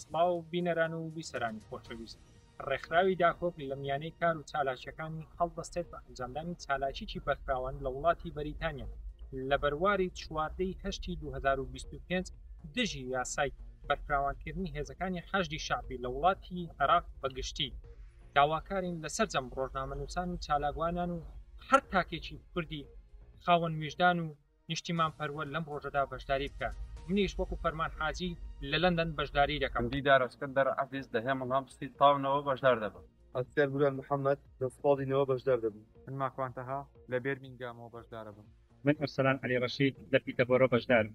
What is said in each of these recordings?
سڵاو بینەران و بیسەرانی خۆشەویست ڕێکخراوی داکۆک لە میانەی کار و چالاکیەکانی هەڵدەستێت بە ئەنجامدانی چالاکیی بەرفراوان لە وڵاتی بەریتانیا لە بەرواری چواردەی هەشتی 2025 دژی یاسای بەرفراوانکردنی هێزەکانی حەشدی شعبی لە وڵاتی عێراق بەگشتی داواکارین لە سەرجەم ڕۆژنامەنووسان و چالاکوانان و هەر تاکێکی کوردی خاوەن ویژدان و نیشتیمان پەروەر لەم ڕۆژەدا بەشداری بکات منیش وەکو فەرمان حاجی لە لەندەن بەشداری دەکەم دیدار ئەسکەندەر عەزیز لە هێمن هەمستی تاو نەوە بەشدار دەبم. ئەسکەر بوران محەمەد لە سپاڵی نەوە بەشدار دەبم. من ماکوان تەها لە بێرمینگامەوە بەشدارەبم. من ئەرسەلان عەلی ڕەشید لە پیتەبۆرۆ بەشدارم.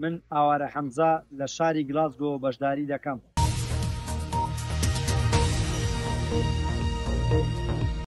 من ئاوارە حەمزە لە شاری گلاسگۆ بەشداری دەکەم.